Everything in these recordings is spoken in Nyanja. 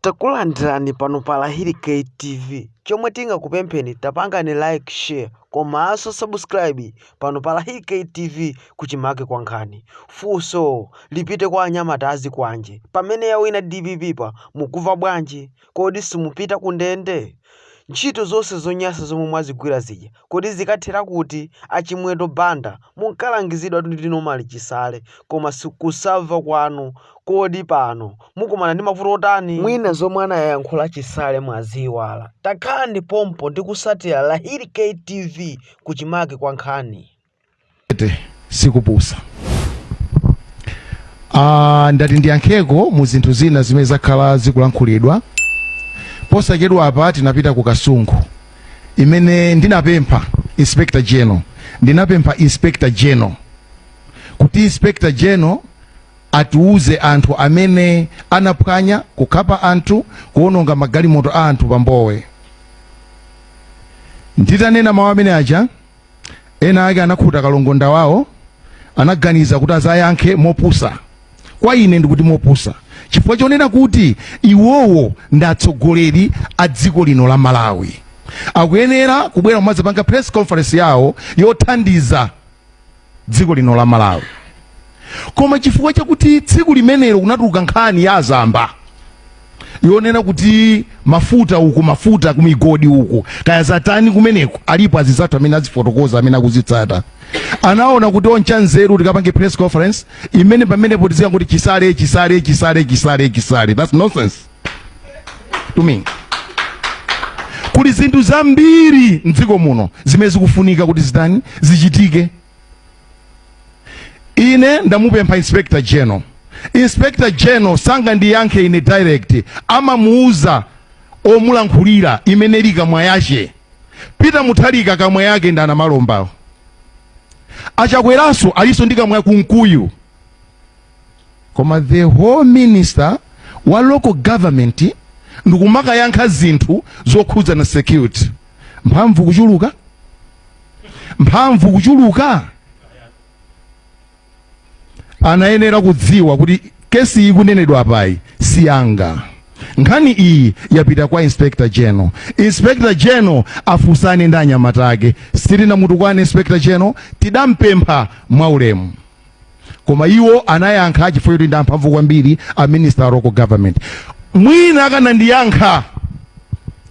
Takulandirani pano pa Lahiri K TV. Chomwe tingakupempheni tapangani like, share komanso subscribe pano pa Lahiri K TV kuchimake kwa nkhani. Funso lipite kwa anyamata azikwanje. Pamene yawina DPP pa mukuva bwanji? Kodi simupita ku ndende? Ntchito zonse zonyasa zomwe mwazigwira zija Kodi zikathera kuti a Chimwendo Banda munkalangizidwatu ndi Norman Chisale koma sikusamva kwanu kodi pano mukumana ndi mavuto otani? Mwina zomwe anayankhula Chisale mwaziiwala. Takhalani pompo ndi kutsatira Lahiri K TV kuchimake kwa nkhani. Ete, sikupusa Ah, ndati ndiyankheko mu zinthu zina zimene zakhala zikulankhulidwa posachedwa apa tinapita ku Kasungu imene ndinapempha inspector general ndinapempha inspector general kuti inspector general atiuze anthu amene anaphwanya kukhapa anthu kuononga magalimoto a anthu pa Mbowe nditanena mawu amene aja Ena ake anakhuta kalongonda wawo, anaganiza kuti azayankhe mopusa. Kwa ine ndikuti mopusa chifukwa chonena kuti iwowo ndi atsogoleri a dziko lino la Malawi. Akuyenera kubwera kumazapanga press conference yawo yothandiza dziko lino la Malawi. Koma chifukwa chakuti tsiku limenelo kunatuluka nkhani ya azamba, yonena kuti mafuta uku mafuta kumigodi uku kaya zatani kumeneko alipo anzathu amene azifotokoza amene akuzitsata anaona kuti otchanzeru tikapange press conference imene pamenepo tizikangoti chisale chisale chisale chisale chisale that's nonsense to me kuli zinthu zambiri mdziko muno zimene zikufunika kuti zitani zichitike Ine ndamupempha inspector general. Inspector general sangandiyankhe ine direct, amamuuza omulankhulira imene ili kamwa yake. Peter Mutharika kamwa yake ndi a Namalomba. A Chakweranso alinso ndi kamwa Kunkuyu. Koma the whole minister wa local government ndikumakayankha zinthu zokhudzana ndi security. Mphamvu kuchuluka? mphamvu kuchuluka anayenera kudziwa kuti kesi ikunenedwa apayi si yanga nkhani iyi yapita kwa inspector general inspector general afunsane ndi anyamata ake sitinamutukwane inspector general tidampempha mwaulemu koma iwo anayankha chifukwa choti ndi amphamvu kwambiri a minister a local government mwina akanandiyankha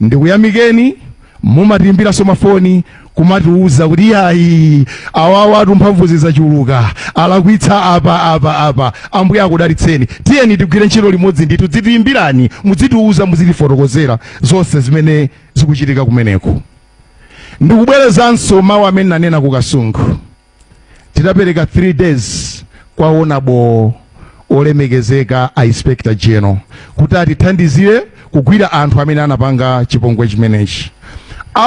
ndikuyamikeni mumatiimbiranso mafoni kumatiuza kuti yayi awawa atu mphamvu zachuluka alakwitsa apa apa apa ambuye akudalitseni tiyeni tigwire ntchito limodzi ndithu muzitiimbirani muzitiuza muzitifotokozera zonse zimene zikuchitika kumeneko ndikubwerezanso mawu amene ndinanena ku kasungu tidapereka 3 days kwa onabo olemekezeka a inspector general kuti atithandizire kugwira anthu amene anapanga chipongwe chimenechi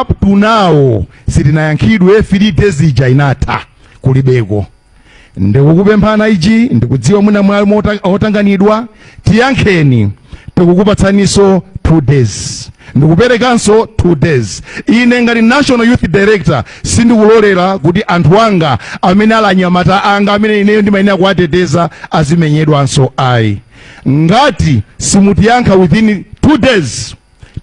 up to now sitinayankhidwe 3 days ija inatha kulibeko ndikukupemphana ichi ndikudziwa mwina munali otanganidwa tiyankheni tikukupatsaninso 2 days ndikuperekanso 2 days ine ngati national youth director sindikulolera kuti anthu anga amene ali anyamata anga amene ineyo ndimayenera kuwateteza azimenyedwanso ayi ngati simutiyankha within 2 days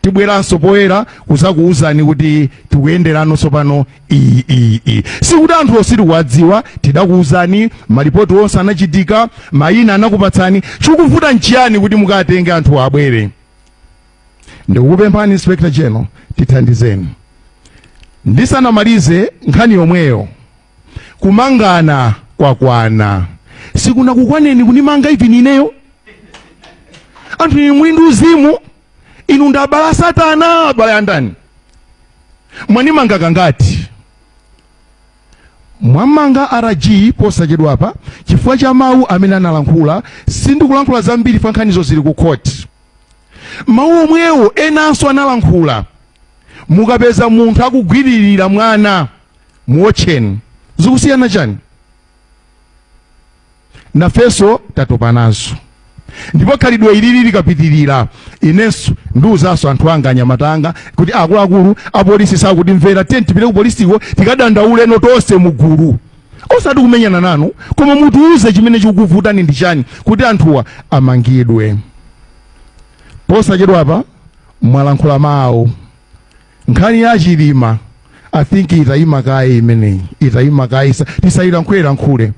tibweranso poyera kuzakuwuzani kuti tikuyenderano tsopano iyi iyi iyi sikuti anthu onse tikuwadziwa tidakuwuzani malipoti onse anachitika mayina anakupatsani chikuvuta nchiyani kuti mukatenge anthu abwere ndikukupemphani inspector general tithandizeni ndisanamalize nkhani yomweyo kumangana kwakwana sikunakukwaneni kundimanga even ineyo anthu inu muli ndi uzimu inu ndi abale a satana abale a ndani mwandimanga kangati mwammanga rg posachedwa apa chifukwa cha mawu amene analankhula sindikulankhula zambiri pa nkhanizo zili ku khoti mawu omwewo enanso analankhula mukapeza munthu akugwiririra mwana muwotcheni zikusiyana chani nafenso tatopa nazo ndipo khalidwe ilili likapitirira inenso ndiuzanso anthu anga anyamata anga kuti akuluakulu apolisi sakutimvera tiyeni tipite ku polisiko tikadandauleno tonse mugulu osati kumenyana nanu koma mutiuze chimene chikukuvutani ndi chani kuti anthuwa amangidwe posachedwapa mwalankhula mawu Nkhani ya chilima I think itayima kaye imeneyi itayima kaye tisayilankhule lankhule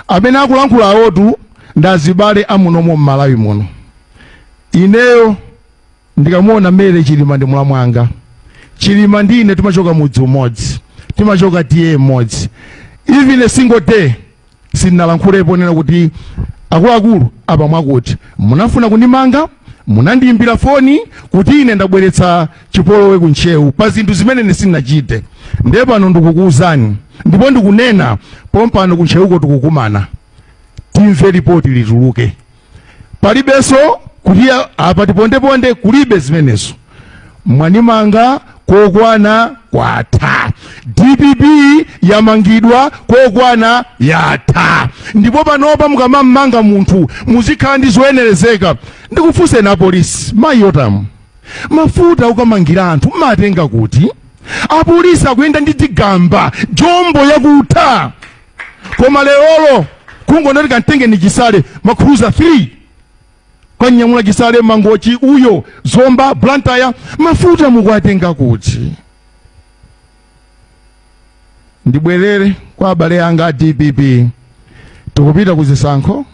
amene akulankhula awotu ndazibale amunomo mmalawi muno ineyo ndikamuona mary chilima ndi mlamu wanga chilima ndi ine timachoka mudzi umodzi timachoka ta imodzi even a single day sindinalankhulepo nena kuti akuluakulu apa mwakuti munafuna kundimanga munandiyimbira foni kuti ine ndabweretsa chipolowe ku ntcheu pa zinthu zimene ine sindinachite ndiye pano ndikukuwuzani ndipo ndikunena pompano ku ntcheuko tikukumana timve lipoti lituluke palibenso kuti apa tipondeponde kulibe zimenezo mwanimanga kokwana kwatha dpp yamangidwa kokwana yatha ndipo panopa mukamamanga munthu muzikhala ndi zoyenerezeka ndikufunseni apolisi ma iyo tamu mafuta okamangira anthu mumatenga kuti apolisi akuyenda ndi tigamba jombo yakutha koma lerolo kungonati kamtengeni chisale makhuluza 3 kumnyamula chisale mangochi uyo zomba blantyre mafuta mukuwatenga kuti ndibwerere kwa abale anga a dpp tikupita ku zisankho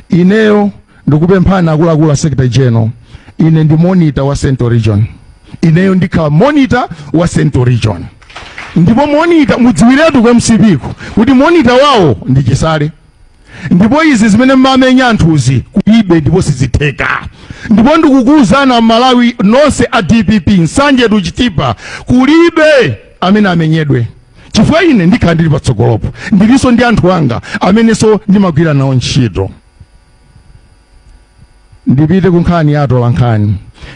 ineyo ndikupemphani akuluakulu a secretary general ine ndi monitor wa central region ineyo ndikhala monitor wa central region ndipo monitor mudziwiretu ku mcp ku kuti monitor wawo ndi chisale ndipo izi zimene mmamenya anthuzi kulibe ndipo sizitheka ndipo ndikukuwuzani amalawi nonse a dpp nsanje to chitipa kulibe amene amenyedwe chifukwa ine ndikhala ndili patsogolopo ndilinso ndi anthu anga amenenso ndimagwira nawo ntchito ndipite ku nkhani ya atola nkhani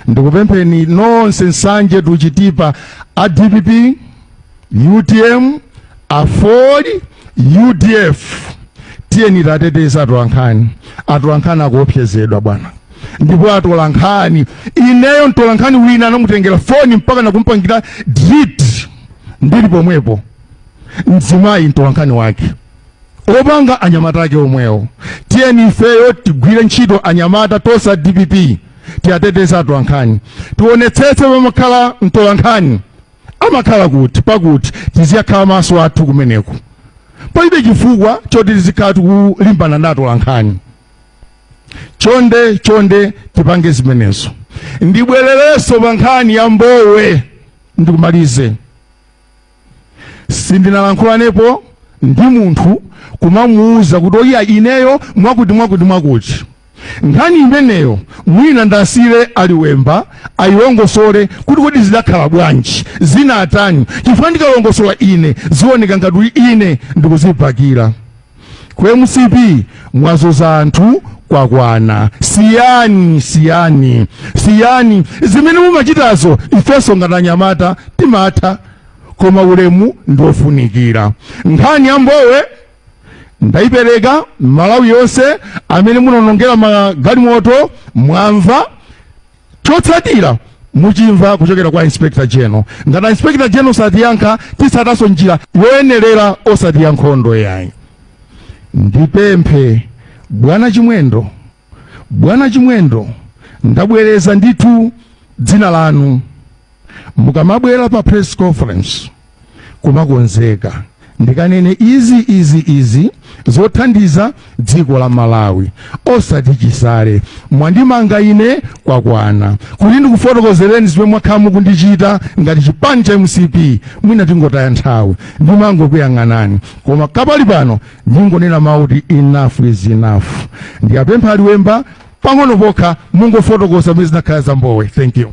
ndikupempheni nonse nsanje to chitipa a dpp utm aford udf tiyeni tiwateteze atola nkhani atola nkhani akuopsezedwa bwana ndipo atola nkhani ineyo mtola nkhani wina anamutengera foni mpaka nakumpangira delete ndili pomwepo mzimayi mtolankhani wake opanga anyamata ake omwewo tiyeni ifeyo tigwire ntchito anyamata tonse a dpp tiwateteze atolankhani tionetsetse pamakhala mtolankhani amakhala kuti pakuti tizikakhala maso athu kumeneko palibe chifukwa choti tizikhala tikulimbana ndi atolankhani chonde chonde tipange zimenezo ndibwererenso pa nkhani ya mbowe ndikumalize sindinalankhulanepo ndi munthu kumamuuza kuti oyiya ineyo mwakuti mwakuti mwakuti nkhani imeneyo mwina ndiasiyire a liwemba ayilongosole kuti kodi zidakhala bwanji zinatani chifukwa ndikalongosola ine zioneka ngati ine ndikudzibakira ku mcp mwazuza anthu kwakwana siyani siyani siyani zimene mumachitazo ifenso ngati anyamata timatha koma ulemu ndiofunikira nkhani ya mbowe ndaipereka malawi yonse amene munaonongera magalimoto mwamva chotsatira muchimva kuchokera kwa inspector general ngati inspector general satiyankha titsatanso njira yoyenerera osati ya nkhondo yayi ndipemphe bwana chimwendo bwana chimwendo ndabwereza ndithu dzina lanu mukamabwera pa press conference kumakonzeka ndikanene izi izi izi zothandiza dziko la malawi osati chisale mwandimanga ine kwakwana kuti ndikufotokozereni zimene mwakhala mukundichita ngati chipani cha mcp mwina tingotaya nthawi ndimangokuyang'anani koma kwa panopano ndingonena mawu kuti enough is enough ndiwapempha a liwemba pang'ono pokha mungofotokoza mmene zinakhala za mbowe thank you.